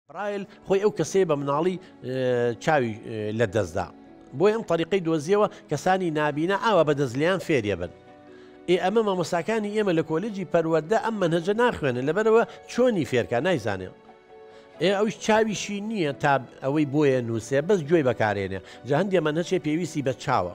برایل خۆی ئەو کەسەیە بە مناڵی چاوی لە دەستدا بۆی ئەم طریقی دۆزیەوە کەسانی نابینە ئاوا بەدەست لیان فێریە بن ئێ ئەمە مامۆساکانی ئێمە لە کۆلجی پەروەەردە ئەم منهجە ناخوێنن لەبەرەوە چۆنی فێرکە نایزانێن ئێ ئەوش چاویشی نییە تا ئەوەی بۆیە نووسێ بەس گوێی بەکارێنێ جا هەندێ منهچێ پێویستی بە چاوە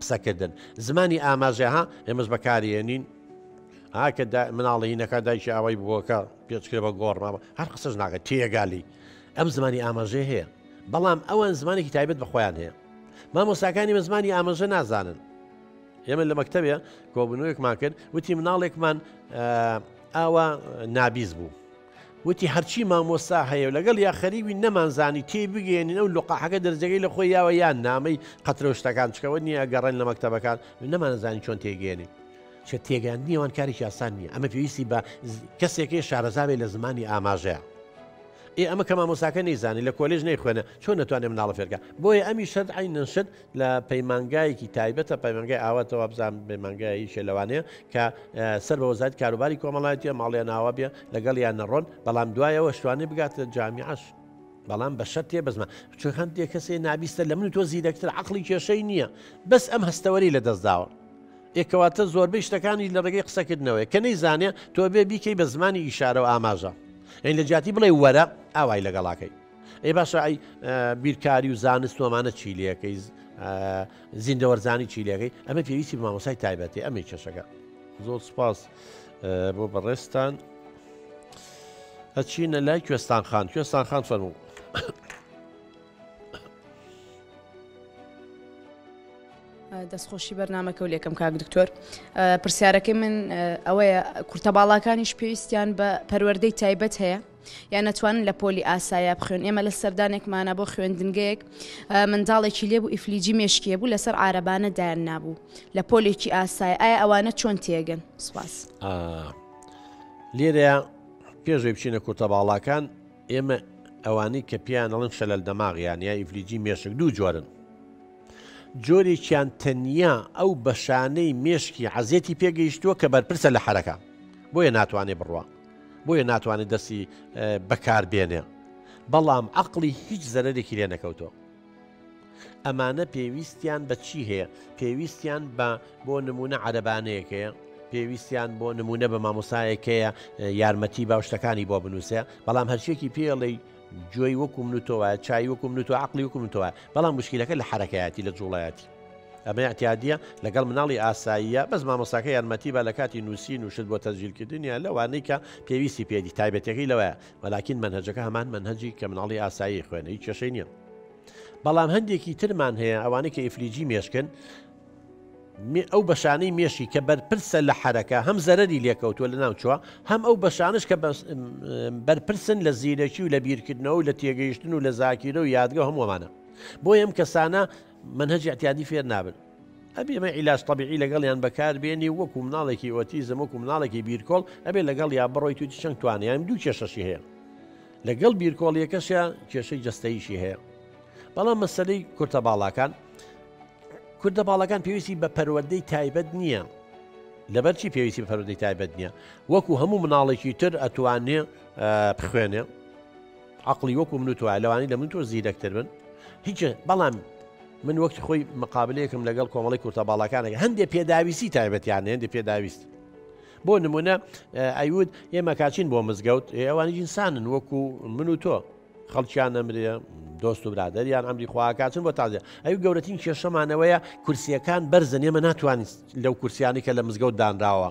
قسەکردن زمانی ئاماژە ها ئێمەش بەکارێنین ئاکە مناڵی نەکە دایکی ئاوای بووەکە پێچکرێ بە گۆڕناوە هەر قسەش ناکە تێگالی ئەم زمانی ئاماژێ هەیە بەڵام ئەوان زمانێکی تایبەت بەخۆیان هەیە مامۆستاکانی بە زمانی ئاماژە نازانن ئێمە لە مەکتتەبێ کۆبنەوەیەکمان کرد وتی مناڵێکمان ئاوا نابیز بوو وتی هەرچی مامۆستا هەیەو لەگەڵ یا خەریبین نەمان زانی تێی بگەیەنین ئەو لقاحەکە دەرجەکەی لە خۆی یاوە یان نا ئەمەی قەترەو شتەکان چکەوە نیە ئەگەڕێن لە مەکتەبەکان نەمان زانی چۆن تێی گەیەنین چە تێگەیاندنی ئەوان کارێکی ئاسان نیە ئەمە پێویستی بە کەسێکی شارەزابێ لە زمانی ئاماژەیە ئێ ئەمە کە مامۆساکە نەیزانانی لە کۆلێژ نەیخوێنە چۆن نەتوانێ مناڵە فێرکە بۆیە ئەمی شەد عینەن شەد لە پەیمانگایەکی تایبەتە پەیمانگای ئاوات وابزان پەیمانگایشە لەوانەیە کە سەر بە وەزارت کاروباری کۆمەڵایەتە ماڵیان ناوە بێ لەگەڵ یان نەڕۆن بەڵام دوایەوە شتوانێ بگاتە جامیعش بەڵام بە شەر تێ بزمە چون هەندێک کەسێ نابیستە لە من تۆ زیرەکتر عقلی کێشەی نییە بەس ئەم هەستەوەری لە دەستداوە ئێکەواتە زۆربەی شتەکانی لە ڕێگەی قسەکردنەوەی کە نەی زانێ تۆ بێ بیکەی بە زمانی ئیشارە و ئاماژە ئەین لە جیاتی بڵێ وەرە ئاوای لەگەڵاکەی ئەی باشە ئەی بیرکاری و زانست و ئەمانە چی لەکەی زیندەوەرزانی چی لەکەی ئەمە پێویستی بە مامۆسای تایبەتی ئەمەی کێشەکە زۆر سپاس بۆ بەڕێستان ئەچینە لای کوێستان خان کوێستان خان فەرموو دەستخۆشی بەرنمەکە و لێکم کاک دکتۆر پرسیارەکەی من ئەوەیە کورتە باڵاکانیش پێویستیان بە پەروەەردەی تایبەت هەیە یان ئەتوانن لە پۆلی ئاسایا بخوێن ئێمە لە سەردانێکمانە بۆ خوێندنگەیەک منداڵێکی لێبوو ئیفلیجی مێشکیە بوو لەسەر عربانە دایان نابوو لە پۆلێکی ئاسای ئایا ئەوانە چۆن تێگەن سوپاس لێرە پێشێ بچینە کورتە باڵاکان ئێمە ئەوانی کە پیانەڵن شەلەل دەماغیان یا ئیفلیجی مێشک دوو جۆرن جۆرێکیان تەنیا ئەو بەشانەی مێشکی عزیێتی پێگەیشتووە کە بەرپرسە لە حرەکە بۆیە ناتوانێ بڕوە بۆیە ناتوانێت دەستی بەکاربێنێ بەڵام عقلی هیچ زەرەرێکی لێ نەکەوتۆ ئەمانە پێویستیان بە چی هەیە پێویستیان بە بۆ نمونە عەربانەیەکەیە پێویستیان بۆ نمونە بە مامۆسایەکەیە یارمەتی باوشتەکانی بۆ بنووسێ بەڵام هەرچێکی پێڵی جۆی وەکو من تۆوە چای وەکو من تۆ عقلی وەکو من تۆوە بەڵام مشکلەکە لە حرەکەیەتی لە جوڵایەتی ئەمە ئیعتیادیە لەگەڵ مناڵی ئاساییە بەس مامۆستاکە یارمەتی بە لە کاتی نووسین و شت بۆ تەزیلکردنیە لەوانەی کە پێویستی پێدی تایبەتەکەی لەوەیە وەلاکین منهجەکە هەمان منهجی کە مناڵی ئاسایی خوێنە هیچ کێشەی نییە بەڵام هەندێکی ترمان هەیە ئەوانەی کە ئیفلیجی مێشکن ئەو بەشانەی مێشی کە بەرپرسە لە حرەکە هەم زەرری لێکەوتووە لە ناوچووە هەم ئەو بەشانش کە بەرپرسن لە زیرەکی و لە بیرکردنەوە و لە تێگەیشتن و لە زاکیرە و یادگە هەمووانە بۆ یەم کەسانە مەنهەجی ئیعتیادی فێر نابن. ئەبێ مە عیلاج تەبیعی لەگەڵیان بەکار بێنی و وەکو مناڵێکی ئۆتیزم وەکو مناڵێکی بیرکۆڵ ئەبێ لەگەڵ یا بڕۆی توی چەند توانیان دوو کێشەشی هەیە لەگەڵ بیرکۆڵیەکەشە کێشەی جستەیشی هەیە بەڵام مەسلەی کورتە باڵاکان کوردە باڵەکان پێویستی بە پەروەدەی تایبەت نییە لەبەرچی پێویستی بە پەرودەی تایبەت نییە وەکو هەموو مناڵێکی تر ئەتوانێ بخوێنێ عەقڵی وەکو من و تۆیە لەوانی لە من تۆ زیرەکتر بن هیچ بەڵام من وەکتی خۆی مقابلەیەکم لەگەڵ کۆمەڵی کورتە باڵاکانەکە هەندێک پێداویستی تایبەتیان هێندی پێداویست بۆ نمونە ئەیود ئێمە کاچین بۆ مزگەوت ئەوانی ئینسانن وەکو من و تۆ خەڵکیان ئەمرێ دۆست و برادریان ئەمری خواکچن بۆ تازە ئەو گەورەترین کێشەمانەوەیە کورسیەکان بەرزن ئێمە ناتوانین لەو کورسیانی کە لە مزگەوت دانراوە